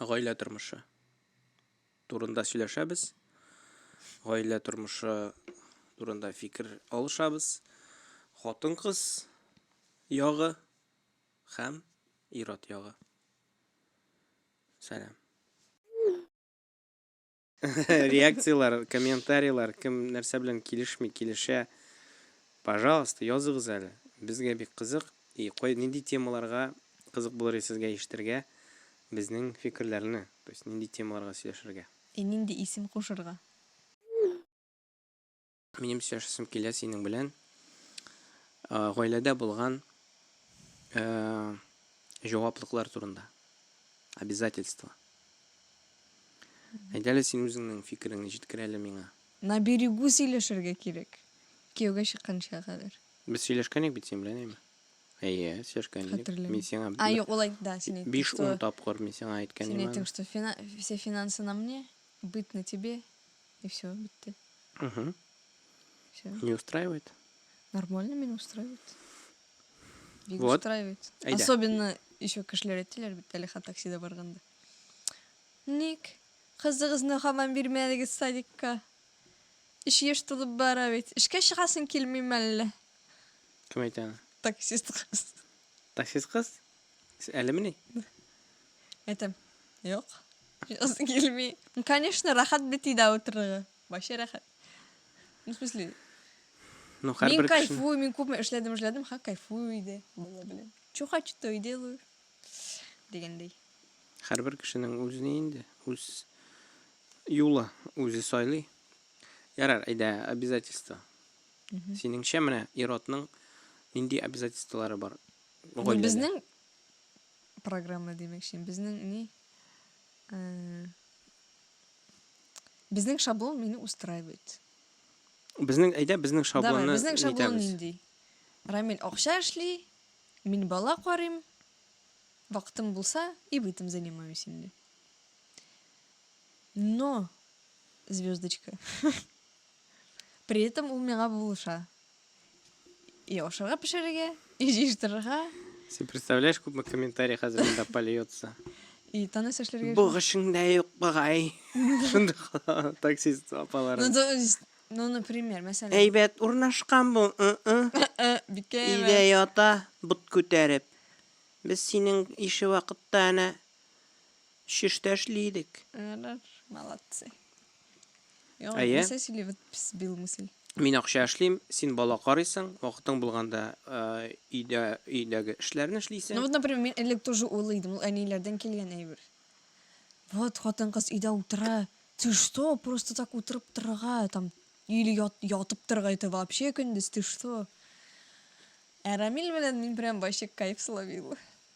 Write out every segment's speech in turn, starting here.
гаилә тормышы турында сөйләшәбез. Гаилә тормышы турында фикер алышабыз. Хатын-кыз ягы һәм ир-ат ягы. Сәлам. Реакцияләр, комментарийлар, кем нәрсә белән килешми, килешә. Пожалуйста, языгыз әле. Безгә бик кызык. И кой, нинди темаларга кызык булыр иде сезгә ишетергә безнең фикерләрне? То есть нинди темаларга сөйләшергә? И нинди исем кушырга? Минем сөйләшәсем килә синең белән. Э, гаиләдә булган э, җаваплыклар турында. Обязательство. Әйдәле син үзеңнең фикереңне җиткер әле миңа. На берегу сөйләшергә кирәк. Кияүгә чыкканча кадәр. Без сөйләшкән идек бит син белән, әйме? Әйе, сөйләшкән идек. Хәтерләмим. Мин сиңа А, юк, ул әйт, да, син әйттең, 5-10 что... тапкыр мин сиңа әйткән Син идем. әйттең, что фина... все финансы на мне, быт на тебе. И все, битте. Угу. Все. Не устраивает? Нормально меня устраивает. Бик вот. устраивает. Айда. Особенно еще кешеләр әйтәләр бит әле ха таксида барганда. Ник кызыгызны хаман бирмәдегез садикка? Эш еш тулып бара бит. Эшкә чыгасың килмим әллә? Кем әйтә аны? Таксист кыз. Таксист кыз? Сез әлемени? Әйтәм. Юк. Язы килми. Ну, конечно, рәхәт бит өйдә утырырга. Вообще рәхәт. Ну, в смысле, Ну, мин һәрбер кешенең кайфую, мин күпме эшләдем, эшләдем, ха, кайфую өйдә. Бала белән. Чё хочу, то и делаю. Дигәндәй. һәрбер кешенең үзенә инде үз юлы үзе сайлый. Ярар, әйдә, обязательство. Синеңчә менә ир-атның нинди обязательстволары бар? Гаиләле. Безнең программа димәкче, безнең ни? Э, безнең шаблон мине устраивает. Безнең әйдә безнең Давай, шаблонны безнең шаблон нитәбез. нинди? Рамил акча эшли, мин бала карыйм, вакытым булса и бытым занимаюсь инде. Но, звездочка, при этом ул миңа булыша. и ашарга пешерергә, и җыештырырга. Син представляешь, күпме комментарий хәзер монда польется. И таныс эшләргә. Бу гышыңда юк багай. Шундый таксист апалар. Ну, то есть, ну, например, мәсәлән. Әйбәт урнашкан бу. Бикә. Өйдә ята, бут күтәреп. Без синең ише вакытта әнә шештә эшли идек. Молодцы. Яңа Әйе. нәрсә сөйли вот пс бил мысль. Мин акча эшлим, син бала карыйсың, вакытың булганда э, өйдә өйдәге эшләрне Ну эшлисең. вот, например, мин элек тоже улы идем, ул әниләрдән килгән әйбер. Вот хатын кыз өйдә утыра. Ты что, просто так утырып торырга, там или ят, ятып торырга это вообще көндез, ты что? Ә Рамил белән мин прям вообще кайф словила.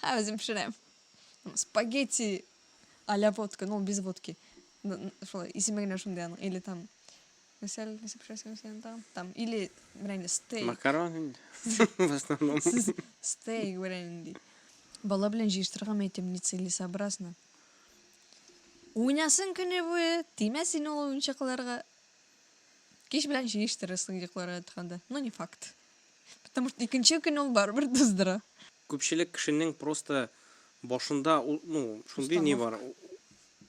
Һәм үзем пешерәм. Спагетти а-ля водка, ну, без водки. Шулай, исеме генә шундый аның. Или там, мисәл, нәрсә пешерәсең сен там? Там, или, менә инде, стейк. Макарон инде, в основном. Стейк, менә инде. Бала белән җыештырырга мә әйтәм, нецелесообразно. Уйнасын көне буе, тимәсен ул уенчыкларга. Кич белән җыештырырсың йокларга ятканда. Ну, не факт. Потому что икенче көн ул барыбер туздыра. Күпчелек кешенең просто башында ул, ну, шундый ни бар,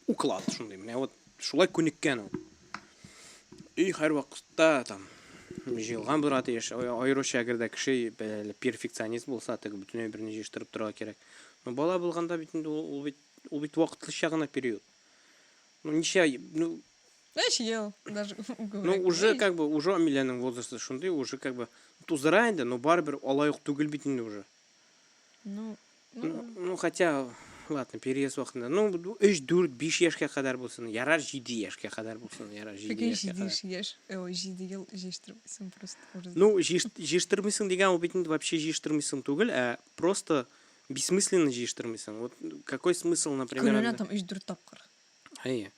уклад шундый, менә вот шулай күнеккән ул. Өй һәрвакытта там җыелган булырга тиеш. Аеруча әгәр дә кеше перфекционист булса, теге бөтенләй берни җыештырып торырга кирәк. Но бала булганда бит инде ул бит ул бит вакытлыча гына период. Ну ничә, ну Эш ел, даже Ну, уже как бы, уже Амилянең возрасты шундый, уже как бы тузыра инде, но барыбер алай ук түгел бит инде уже. Ну, ну, ну, ну хотя ладно, переезд вакытында. Ну, 3-4-5 яшькә кадәр булсын, ярар 7 яшькә кадәр булсын, ярар 7 яшькә кадәр. 7 яшь, ой, 7 ел җиштырмыйсың просто. Ну, җиштырмыйсың дигән ул бит инде вообще җиштырмыйсың түгел, ә просто бессмысленно җиштырмыйсың. Вот какой смысл, например? Көненә там 3-4 тапкыр. Әйе.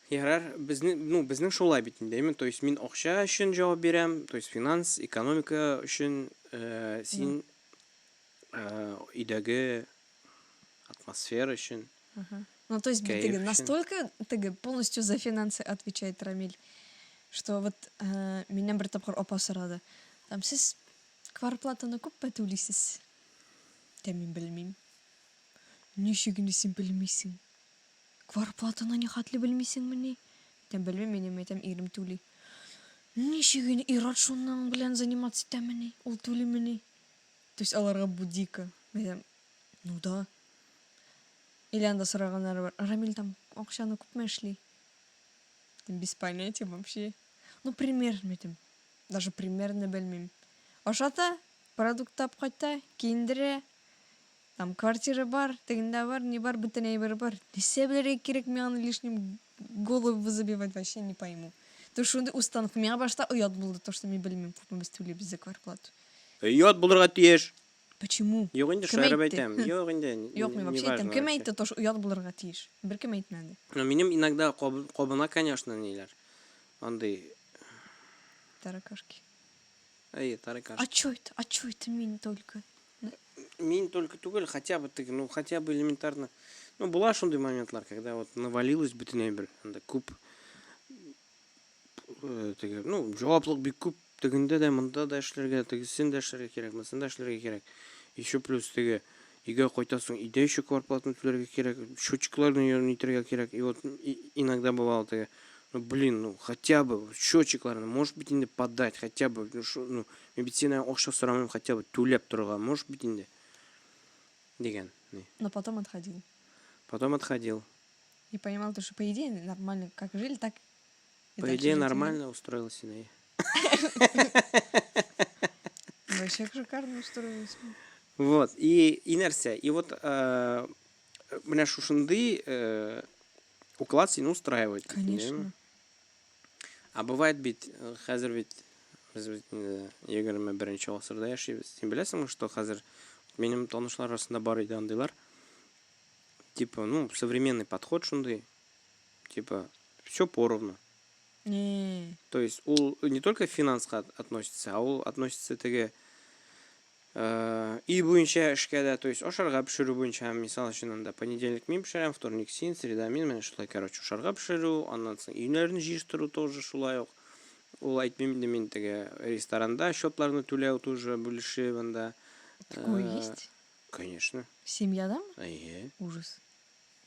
Ярар, безне, ну, безнең шулай бит инде, әйме? То есть мин акча өчен җавап бирәм, то есть финанс, экономика өчен, э, син э, өйдәге атмосфера өчен. Ну, то есть бит теге настолько теге полностью за финансы отвечает Рамиль, что вот э, миннән бер тапкыр апа сорады. Там сез кварплатаны күпме түлисез? Тә мин белмим. Ничек инде син белмисең? Кварплатаны нихәтле белмисеңмени? Әйтәм, белмим минем, әйтәм, ирем түли. Ничек инде ир-ат шуның белән заниматься итәмени? Ул түлимени? То есть аларга бу дико. Әйтәм, ну да. Или анда сораганнары бар. Рамил там акчаны күпме эшли? Әйтәм, без понятия вообще. Ну примерно әйтәм. Даже примерно белмим. Ашата, продукт тап кайта, киендерә, Там квартира бар, тегендә бар, ни бар, бөтен әйбер бар. Нәрсә белергә кирәк миңа аны лишним голову забивать вообще не пойму. То шундый устанок. Миңа башта оят булды, то что мин белмим күпме без түлибез за квартплату. Оят булырга тиеш. Почему? Юк инде, шаярып әйтәм. Юк инде. Юк, мин вообще әйтәм. Кем әйтте то что оят булырга тиеш? Беркем әйтмәде. Но минем иногда кабына, конечно, ниләр. Андый таракашки. Әйе, тарикаш. А чё это? А чё это мин только? Мин только түгел, хотя бы ты, ну хотя бы элементарно. Ну була шундый моментлар, когда вот навалилось бөтенләй бер, анда күп э, теге, ну җаваплык бик күп, тегендә дә, монда да эшләргә, тегесен дә эшләргә кирәк, монысын да эшләргә кирәк. Еще плюс теге Өйгә кайтасың, өйдә еще квартплатаны түләргә кирәк, счетчикларны йөрүне итәргә кирәк. И вот иногда бывало такая, ну блин, ну хотя бы счетчикларны можешь быть инде подать, хотя бы, ну что, ну медицина акча сорамыйм, хотя бы түләп торырга можешь быть инде? Дигән. Но потом отходил. Потом отходил. И понимал то, что по идее нормально, как жили, так По идее, нормально устроил себе. Вообще шикарно устроилась. Вот, и, и нәрсә. И вот э, менә шушындый э, уклад сине устраивает. Конечно. А бывает бит, э, хәзер бит, без бит инде 21 гасырда яшибез. Син беләсеңме, что хәзер минем танышлар арасында бар иде андыйлар. Типа, ну, современный подход шундый. Типа, все поровну. Не. То есть ул не только финанска относится, а ул относится теге э, и буенча эшкә дә, то есть ашарга пешерү буенча, мисал өчен анда понедельник мин пешерәм, вторник син, среда мин, менә шулай, короче, ашарга пешерү, аннан соң өйләрне җыештыру тоже шулай ук. Ул әйтмим инде мин теге ресторанда счетларны түләү тоже бүлешеп анда. Такое э, есть? Конечно. Семьядамы? Әйе. Ужас.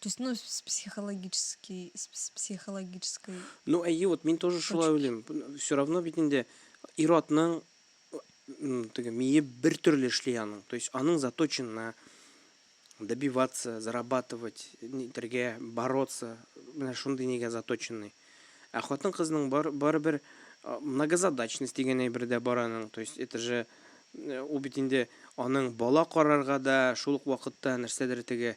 То есть, ну, с психологический, с психологической... Ну, әйе, вот мин тоже шулай уйлыйм. Все равно бит инде ир-атның теге мие бер төрле эшли аның. То есть, аның заточен на добиваться, зарабатывать, нитергә, бороться. Менә шундый нигә заточенный. Ә хатын-кызның бар барыбер многозадачность дигән әйбер дә бар аның. То есть, это же ул бит инде аның бала карарга да, шул ук вакытта нәрсәдер теге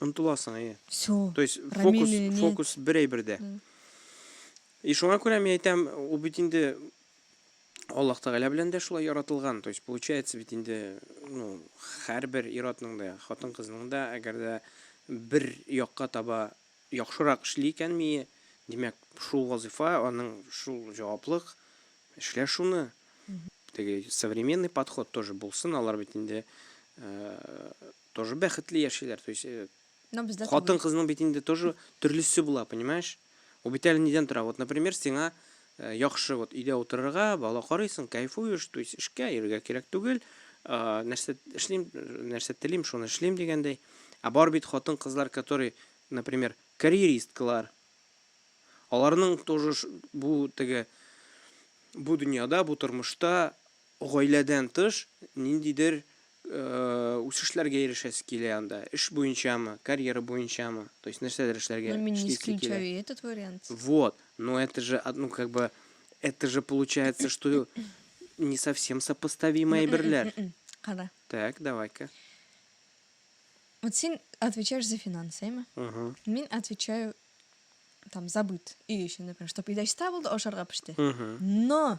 Омтыласың, әйе. Всё. То есть фокус, фокус бер әйбердә. И шуңа күрә мин әйтәм, ул бит инде Аллаһ Тәгалә белән дә шулай яратылган. То есть получается бит инде, ну, һәрбер ир-атның да, хатын-кызның да, әгәр дә бер якка таба яхшырак эшли икән мие, димәк, шул вазыйфа, аның шул җаваплык, эшлә шуны. Теге современный подход тоже булсын, алар бит инде Тоже бәхетле яшиләр, то есть, э, Но бездә түгел. хатын-кызның бит инде тоже төрлесе була, понимаешь? Ул бит әле нидән тора? Вот, например, сиңа э, яхшы вот өйдә утырырга, бала карыйсың, кайфуешь, то есть эшкә йөрергә кирәк түгел. А, нәрсә эшлим, нәрсә телим, шуны эшлим дигәндәй. Ә бар бит хатын-кызлар, которые, например, карьеристкалар. Аларның тоже ш- бу теге бу дөньяда, бу тормышта Гаиләдән тыш ниндидер үсешләргә ирешәсе килә анда, эш буенчамы, карьера буенчамы, то есть нәрсәдер эшләргә, эшлисе килә. Ну мин не исключаю и этот вариант. Вот, но это же, ну как бы, это же получается, что не совсем сопоставимые әйберләр. Кара. Так, давай-ка. Вот син отвечаешь за финансы, әйме? Угу. Мин отвечаю там за быт, өй өчен, например, чтобы идәчтә булды, ашарга пеште. Угу. Но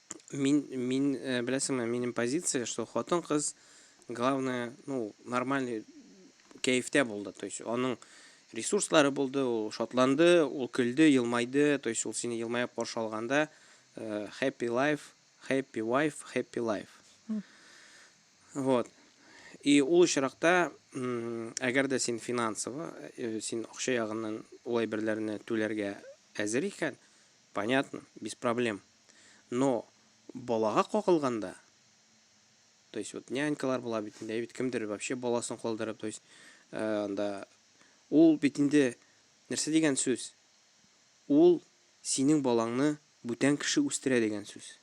Мин, мин, э, беләсеңме, минем позиция, что хатын-кыз, главное, ну, нормальный кәефтә булды. То есть, аның ресурслары булды, ул шатланды, ул көлде, елмайды. То есть, ул сине елмаеп каршы алганда, э, happy life, happy wife, happy life. М. Вот. И ул очракта, м, әгәр дә син финансово, э, син акча ягыннан ул әйберләрне түләргә әзер икән, понятно, без проблем. Но балага кагылганда, то есть вот нянькалар була бит инде, әйбит кемдер вообще баласын калдырып, то есть анда ул бит инде нәрсә дигән сүз? Ул синең балаңны бүтән кеше үстерә дигән сүз.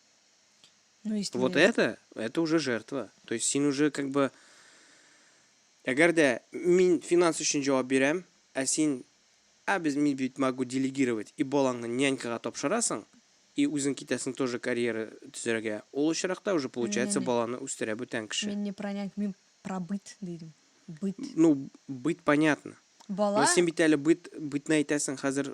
Ну, если Вот это, это уже жертва. То есть син уже как бы Әгәр дә мин финанс өчен җавап бирәм, ә син Ә без мин бит могу делегировать и балаңны нянькага тапшырасың и үзең китәсең тоже карьера төзәргә, ул очракта уже получается баланы үстерә бүтән кеше. Мин не про няньку, мин про быт дидем. Быт. Ну, быт понятно. Бала. Но син бит әле быт, бытны әйтәсең, хәзер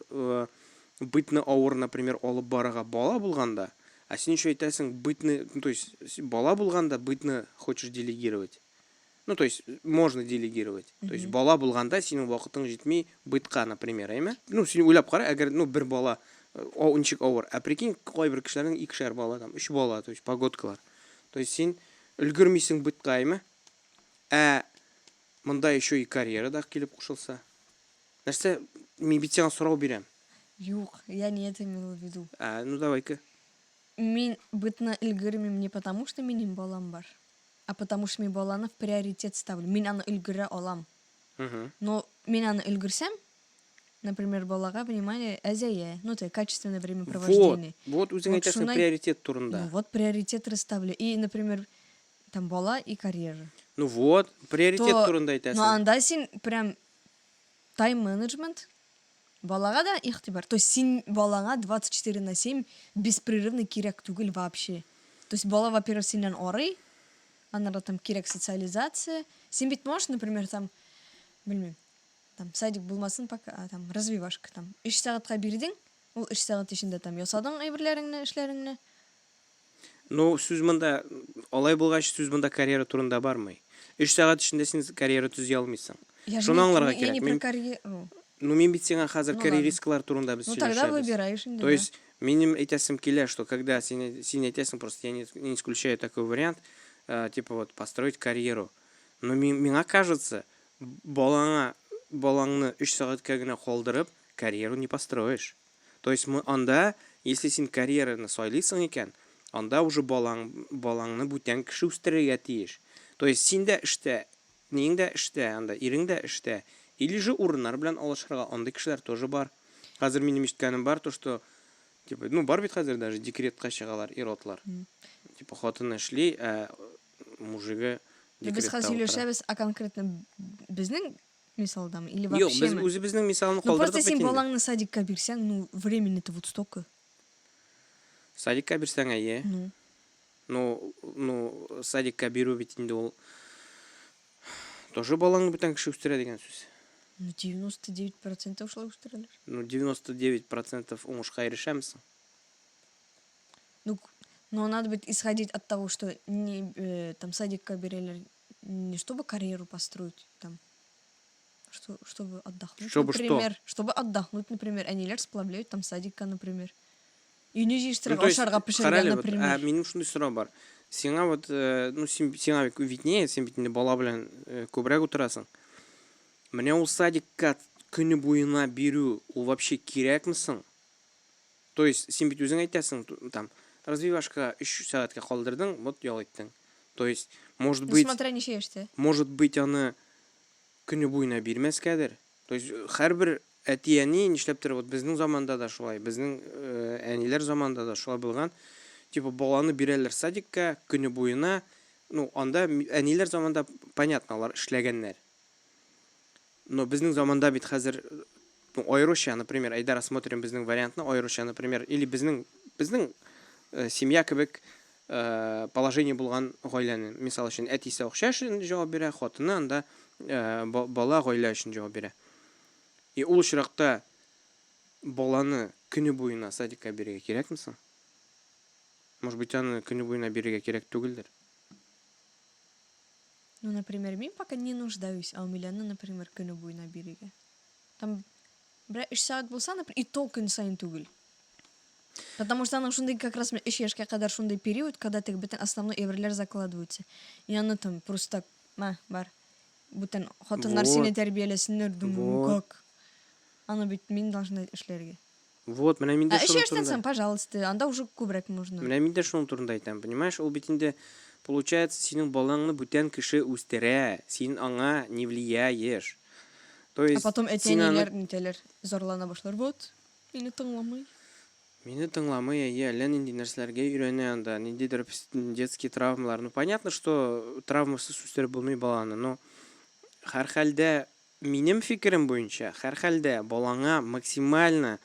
бытны авыр, например, алып барырга бала булганда, а син еще әйтәсең бытны, ну то есть бала булганда бытны хочешь делегировать. Ну то есть можно делегировать. То есть бала булганда синең вакытың җитми бытка, например, әйме? Ну син уйлап кара, әгәр ну бер бала о, ничек авыр. Ә прикинь, кайбер кешеләрнең икешәр бала там, өч бала, то есть погодкалар. То есть син өлгермисең бытка, әйме? Ә монда еще и карьера да килеп кушылса. Нәрсә, мин бит сиңа сорау бирәм. Юк, я не это имела в виду. А, ну давай-ка. Мин бытны өлгермим не потому, что минем балам бар. А потому что мин баланы в приоритет ставлю, мин аны өлгерә алам. Но мин аны өлгерсәм, например, балага внимание әзәя, ну ты качественное время провождения. Вот, вот үзең әйтәсең приоритет турында. Ну вот приоритет расставлю. И, например, там бала и карьера. Ну вот, приоритет турында әйтәсең. Ну анда син прям тайм-менеджмент Балага да игътибар, то есть син балаңа 24 на 7 беспрерывный кирәк түгел вообще. То есть бала во-первых синнән арый, аннары там кирәк социализация. Син бит можешь, например, там, белмим, там садик булмасын пока, а, там развивашка там. 3 сәгатькә бирдең, ул 3 сәгать эчендә там ясадың әйберләреңне, эшләреңне. Ну, сүз монда, алай булгач, сүз монда карьера турында бармый. Өч сәгать эчендә син карьера төзи алмыйсың. Я Шуны аңларга я не про карьера. Ну, мин бит сиңа хәзер ну, карьеристкалар турында без сөйләшәбез. Ну, тогда выбираешь инде. То есть, минем әйтәсем килә, что когда син, син әйтәсең, просто я не, не исключаю такой вариант, э, типа вот, построить карьеру. Но ми, миңа кажется, балаңа, балаңны өч сәгатькә генә калдырып, карьеру не построишь. То есть мы анда, если син карьераны сайлыйсың икән, анда уже балаң, балаңны бүтән кеше үстерергә тиеш. То есть син дә эштә, ниең дә эштә анда, ирең дә эштә. Или же урыннар белән алышырга, андый кешеләр тоже бар. Хәзер минем ишеткәнем бар, то что, типа, ну бар бит хәзер даже декретка чыгалар ир-атлар. Типа хатыны эшли, ә мужигы декретта утыра. Без хәзер сөйләшәбез, а конкретно безнең Мисалдамы? Или вообще Юк, без үзебезнең мисалны калдырдык бит инде. Ну просто син балаңны садикка бирсәң, ну времени-то вот столько. Садикка бирсәң әйе. Ну. Ну, ну, садикка бирү бит инде ул тоже балаңны бүтән кеше үстерә дигән сүз. Ну 99% шулай үстерәләр. Ну 99% уңышка ирешәмсең. Ну, но надо быть исходить от того, что не э, там садикка бирәләр, не чтобы карьеру построить там, что, чтобы отдохнуть, чтобы например. Что? Чтобы отдохнуть, например. Они лер сплавляют там садика, например. И не жишь ну, ашарга пешерга, например. Вот, а, минем шундай сорау бар. Сиңа вот, э, ну, син, сиңа бик виднее, син бит инде бала белән э, күбрәк утырасың. Менә ул садикка көне буена бирү, ул вообще кирәкме соң? То есть, син бит үзең әйтәсең, там, развивашка 3 сәгатькә калдырдың, вот ял иттең. То есть, может быть... Ну, смотря ничә яшьтә. Может быть, аны көне буена бирмәскәдер. То есть, һәрбер әти-әни нишләптер, вот безнең заманда да шулай, безнең э, әниләр заманда да шулай булган. Типа, баланы бирәләр садикка, көне буена, ну, анда әниләр заманда, понятно, алар эшләгәннәр. Но безнең заманда бит хәзер, ну, аеруча, например, әйдә рассмотрим безнең вариантны, аеруча, например, или безнең, безнең семья кебек положение булган гаиләне, мисал өчен, әтисе акча өчен җавап бирә, хатыны анда бала гаилә өчен җавап бирә. И ул очракта баланы көне буена садикка бирергә кирәкме соң? Может быть, аны көне буена бирергә кирәк түгелдер? Ну например мин пока не нуждаюсь а у милены например көне буена бирегә там берәр өч сәгать булса например и то көн саен түгел потому что аның шундый как раз өч яшькә кадәр шундый период когда теге бөтен основной әйберләр закладываются и аны там просто мә бар бүтән хатыннар вот. сине тәрбияләсеннәр думаю вот. как аны бит мин должна эшләргә Вот, менә мин дә Ә өч шуның яшьтән турында. соң, пожалуйста, анда уже күбрәк можно. Менә мин дә шуның турында әйтәм, понимаешь, ул бит инде, получается, синең балаңны бүтән кеше үстерә, син аңа не влияешь. То Ә есть, потом син аны. әти-әниләр нитәләр, зарлана башлар, вот, мине тыңламый. Мине тыңламый, әйе, әллә нинди нәрсәләргә өйрәнә анда, ниндидер пс- детские травмалар. Ну, понятно, что травмасыз үстереп булмый баланы, но һәрхәлдә Минем фикерем буенча, һәрхәлдә, балаңа максимально,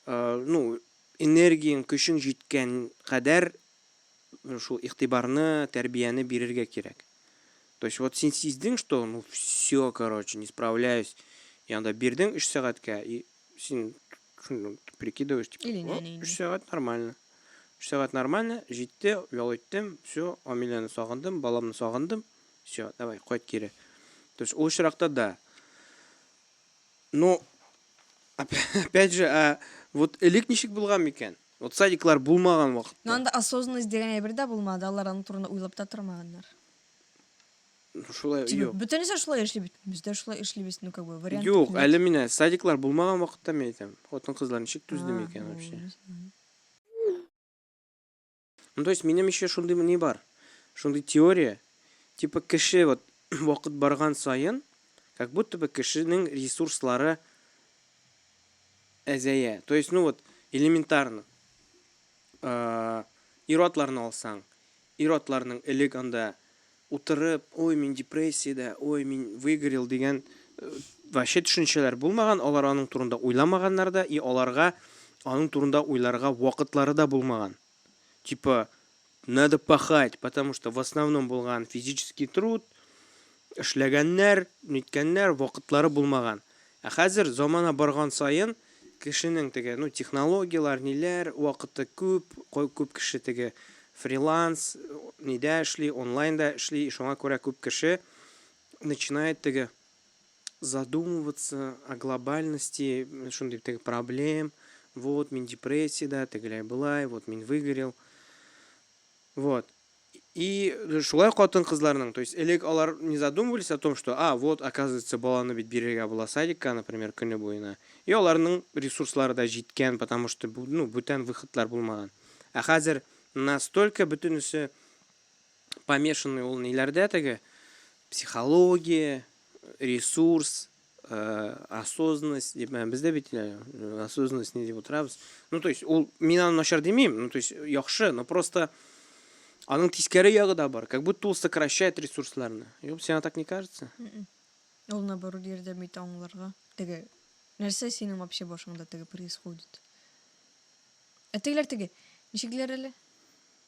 ну, энергияң, көчең җиткән кадәр шул игътибарны, тәрбияне бирергә кирәк. То есть, вот син сиздең, что, ну, всё, короче, не справляюсь, я анда бирдең өч сәгатькә, и син прикидываешь, типа, Или нәни, нәни. өч сәгать нормально. Өч сәгать нормально, җитте, ял иттем, всё, Амиләне сагындым, баламны сагындым, Все, давай, кайт кире. То есть, ул очракта да. Но, опять же, а, вот элек ничек булган микән? Вот садиклар булмаган вакытта. Но анда осознанность дигән әйбер дә булмады, алар аның турында уйлап та тормаганнар. Ну, шулай, юк. Бөтенесе шулай эшли бит. Без дә шулай эшлибез, ну как бы вариант. Юк, әле менә садиклар булмаган вакытта мин әйтәм. Хатын-кызлар ничек түзде микән вообще? Ну, то есть, минем еще шундый ни бар, шундый теория, типа кеше вот вакыт барган саен, как будто бы кешенең ресурслары әзәя. То есть, ну вот, элементарно. Э, Ир-атларны алсаң, ир-атларның элек анда Утырып, ой, мин депрессиядә, ой, мин выгорел дигән вообще төшенчәләр булмаган, алар аның турында уйламаганнар да и аларга аның турында уйларга вакытлары да булмаган. Типа, надо пахать, потому что в основном булган физический труд, эшләгәннәр, ниткәннәр, вакытлары булмаган. Ә хәзер замана барган саен, кешенең теге, ну, технологияләр, ниләр, вакыты күп, күп кеше теге фриланс, нидә эшли, онлайнда эшли, шуңа күрә күп кеше начинает теге задумываться о глобальности, шундый теге проблем, вот, мин депрессиядә, тегеләй-болай, вот, мин выгорел. Вот. И шулай катын-кызларның, то есть элек алар не задумывались о том, что, а, вот, оказывается, баланы бит бирергә була садикка, например, көне буена. И аларның ресурслары да җиткән, потому что, ну, бүтән выходлар булмаган. Ә хәзер настолько бөтенесе помешанный ул ниләрдә теге психология, ресурс, Э, осознанность дип ә, бездә бит э, осознанность не дип отырабыз ну то есть ул мин аны начар димим ну то есть яхшы но просто аның тискәре ягы да бар как будто ул сокращает ресурсларны юк сиңа так не кажется м-м. ул наоборот ярдәм итә аңларга теге нәрсә синең вообще башыңда теге происходит ә тегеләр теге ничекләр әле